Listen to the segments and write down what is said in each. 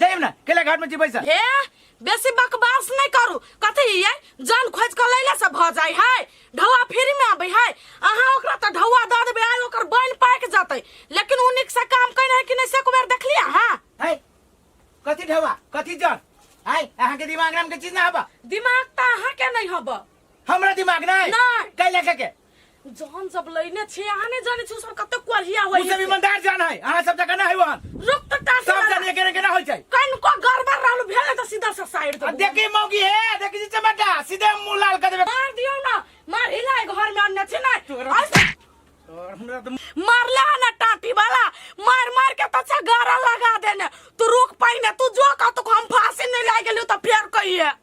जाइम ना केला घाट में जीबै सर ए बेसी बकवास नहीं करू कथी ये जान खोज के लैला से भ जाय है ढौआ फ्री में आबै है अहाँ ओकरा त ढौआ द देबै आइ ओकर बन पाक जतै लेकिन उ निक से काम कइन है कि नहीं से कुबेर देखलिया हां है कथी ढवा कथी जन है अहाँ के दिमाग नाम के चीज ना हबा दिमाग त अहाँ के नहीं हब हमरा दिमाग नहीं नहीं। कैला के के जहन सब लइने छी अहाँ ने जाने छी सब कते कोढ़िया होय तू सब ईमानदार जान है अहाँ सब जगह ना है वहां रुक त ता सब जान एके एके ना होय छै कन को गड़बड़ रहल भेल त सीधा से साइड दे देखी मौगी है देखी जी चमटा सीधे मुंह लाल कर देबे मार दियो ना मार हिला घर में अन्ने छी ना मारला ना टाटी वाला मार मार के त छगारा लगा देने तू रुक पाई ना तू जो का तो हम फांसी नहीं लाग गेलियो त फेर कहिए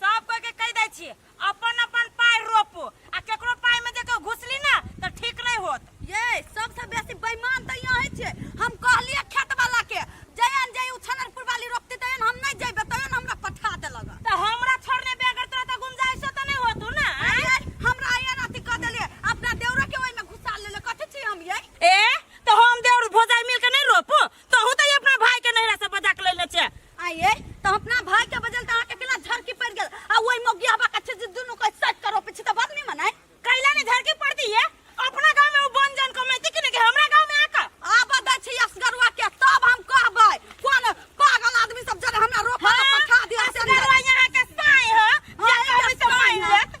सब कोई के कह दै छियै अपन अपन पाय रोपू आ केकरो पाय में जे केओ घुसली ना तऽ ठीक नहि होत ये सबसे बेसी बेईमान तऽ यहाँ है छे हम कहलिए खेत वाला के जयन जय उछनरपुर वाली रोपते तयन हम नहीं जेबे तयन हमरा पठा देलक तऽ हमरा छोड़ने बे अगर तोरा तऽ गुंजाइशो तऽ नहि होतू ना आँय? हमरा आया राति कह देले अपना देवरा के ओहि में घुसा लेले कथि छी हम ये ए तऽ हम देउर भोजाइ मिल के नहि रोपू तहू तऽ अपना भाय के नैहरा से बजा के लेने छे आये तऽ अपना भाय के बजल तऽ अहाँके केना झरकी पड़ि गेल आ ओहि मोगिया बा कच्चे जे दुनू को सेट करो पीछे तऽ बात नहीं मनाय कैला ने झरकी पड़ती है अपना गांव में वो बन जान कमेती कि नहीं कि हमरा गांव में आका आब दै छी असगरुआ के तब हम कहबै कोन पागल आदमी सब जरे हमरा रोपा हाँ, पठा दिया असगरुआ यहाँ के साय ह, जे कहबै से मान लेत।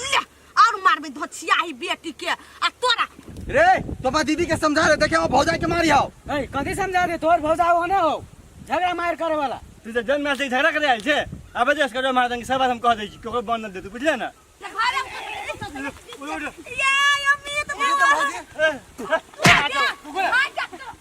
ले और मारबे धछिया ही बेटी के आ तोरा रे तोपा दीदी के समझा दे देखे वो भौजाई के मारी आओ ए कथी समझा दे तोर भौजा हो ना हो झगड़ा मार करे वाला तू तो जन्म से झगड़ा करे आयल छे अब जे इसका जो मार देंगे सब बात हम कह दे छी केकरो बन न दे तू बुझले ना ते घरे में उठ, उठ। ये अमित ए, ए, भाग जा, कुकुर। भाग जा तू।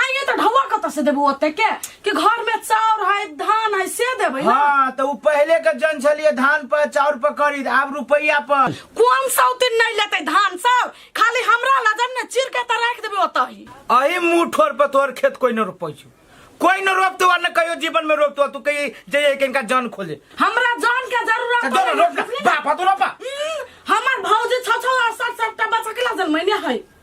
आइए तो ढवा कत से देबू ओते के कि घर में चाउर है धान है से देबै ना हाँ तो उ पहले के जन छलिए धान पर चाउर पर खरीद आब रुपया पर कोन सौतिन नहीं लेते धान चाउर खाली हमरा लजन ने चिर के त राख देबै ओते ही अही मुंह ठोर पर तोहर खेत कोई न रोपै छौ कोई न रोपतो आ न कहियो जीवन में रोपतो तू कही जइए के इनका जन खोले हमरा जान के जरूरत तो पड़ै रोप ना, बुझलियै ना? बाप तो रोपा हम्म, हमर भौजी छ छ आ सात सात टा बच्चा के लजन मैंने है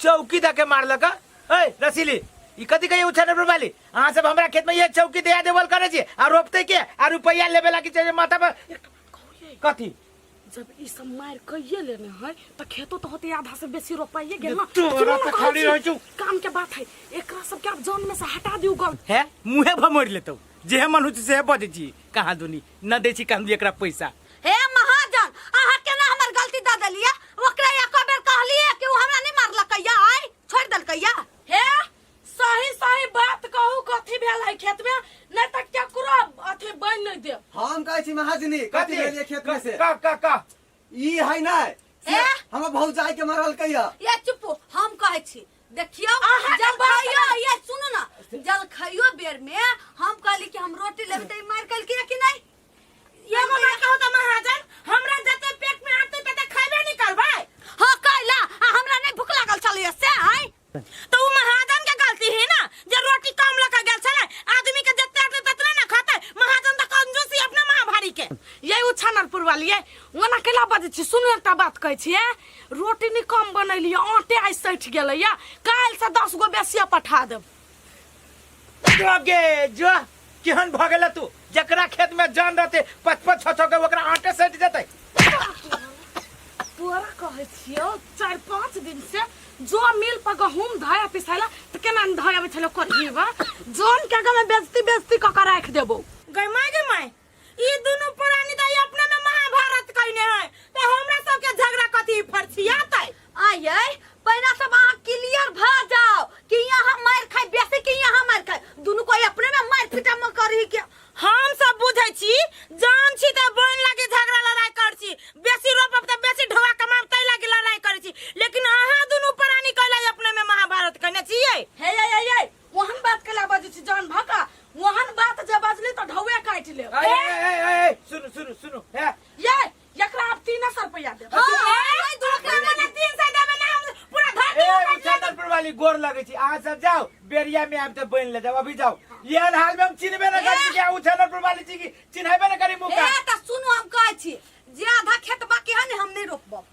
चौकी धके मारलक ए रसीली ई कथी कहिए उछाने पर वाली अहाँ सब हमरा खेत में ये चौकी दया देवल करे छी आ रोपते के आ रुपैया लेबे लागी चाहिए माथा पर कथी जब ई सब मार कहिए लेने है तो खेतो तो होते आधा से बेसी रोपाइए गेल ना तोरा सुनो ना तो कहै खाली छी, रहै छौ। काम के बात है एकरा सब के आप जान में से हटा दियो गल है मुहे भमोर लेतौ जेहे मन हो छै सेहे बजै छी कहाँ दुनी न दै छी कहाँ दुनी एकरा पैसा हे महाजन अहाँ केना हमर गलती दऽ देलिए ओकरा एको बेर कहलिए कि ओ हमरा नहि मारलकैया आइ छोड़ि देलकैया हे सही सही बात कहू कथी भेल है खेत में नहीं तो केकरो अथी बन नहीं दे हम कहै छी महाजनी कथी भेल ये खेत में से का का का ई है ना ए? हमर भौजाई के मारल कैया ये चुप हम कहै छी देखियो अहाँ के जल बात खाइयो ना। ये सुनू ना जल खाइयो बेर में हम कहली कि हम रोटी लेबै त ई मार कल कि नहीं एगो मार के होता महाजन हमरा जते पेट में आते तते खाइबे नहीं करबै हां कैला आ हमरा नहीं भूख लागल छलिए से आइ तो उ महाजन के गलती है ना जे रोटी कम लगा गेल छले आदमी के जते आते ततने ना खाते महाजन त कंजूस ही अपना मां भारी के ये उ छानरपुर वाली है ओना केला बजे छी सुन एकटा बात कहै छी रोटी नहीं कम बनैलिए आटे आइ सैठ गेलैया काल से 10 गो बेसिया पठा देब जोगे जो केहन भऽ गेल तू जकरा खेत में जान रहते पच पच छो छो के ओकरा आटे सटि जेतै तोरा कहै छियौ चारि पाँच दिन से जो मिल पर गहूम धोया पिसाला तऽ केना धोया बैठल करही बा जोन के आगा में बेजती बेजती कऽ के राखि देबौ गै माय गै माय ई दुनू प्राणी तऽ ई अपने में महाभारत कहने है तऽ हमरा सबके झगड़ा कथी फरसियात है आये पहिना सब अहाँ क्लियर भ जाओ कि यहाँ मार खाए बेसी कि यहाँ मार खाए दुनू कोई अपने में मार पीटा में करही के हम सब बुझै छी जान छी तऽ बन लागे झगड़ा लड़ाई कर छी बेसी रोपब तऽ बेसी ढोआ कमाब तै लागे लड़ाई कर छी लेकिन अहाँ दुनू प्राणी कहला अपने में महाभारत कहने छियै हे ये ये ये ओहन बात केला बजै छी जान भका ओहन बात जे बजली तऽ ढौए काटि लेब ए, ए, ए, ए, ए, सुनू सुनू सुनू ए, ये एकरा आब तीन सौ रुपया देब हां दोकरा मने 300 देबे ना हम पूरा धरती ए, उठा मुजफ्फरपुर वाली गोर लगे छी अहाँ सब जाओ बेरिया में आबि तऽ बनि ले जाओ अभी जाओ एहन हाल में हम चिन्हबे न करी छी कि अहाँ मुजफ्फरपुर वाली छी कि चिन्हबे न करी मुका ए तऽ सुनू हम कहै छी जे आधा खेत बाकी है ने हम नहि रोपब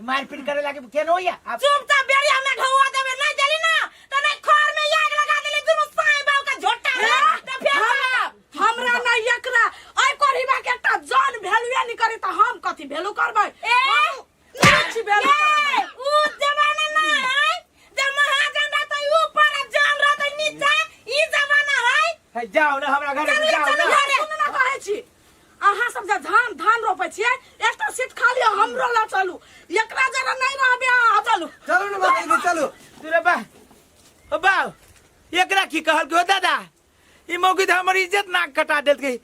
ई मारपीट करे लागे केन होइया आप चुप ता बेरिया में ढौआ देबे नहीं देली ना त नहीं खर में आग लगा देली दुनु साई बाऊ का झोटा रे त फेर हमरा- हमरा नहीं एकरा ओइ परिवा के एकटा जान भेलुए नहीं करे त हम कथी भेलु करबै ए नाच भेलु ए उ जमाना ना है जब महाजन रहत है ऊपर आ जान रहत है नीचे ई जमाना है है, जाओ ना हमरा घरे से जाओ ना सुन ना कहै छी अहाँ सब जे धान धान रोपे छियै एकटा सीट खाली है, हमरो ला चलू एकरा जरा नहीं रहबे अहाँ चलू चलू ने बाबा जी, चलू अरे बा ओ बा एकरा की कहल के हो दादा ई मौकी तो हमर इज्जत नाक कटा देत गई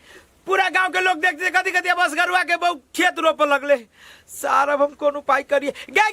पूरा गांव के लोग देखते कथी कथी बस गरुआ के बहु खेत रोप लगले सारा हम कोन उपाय करिए गे गे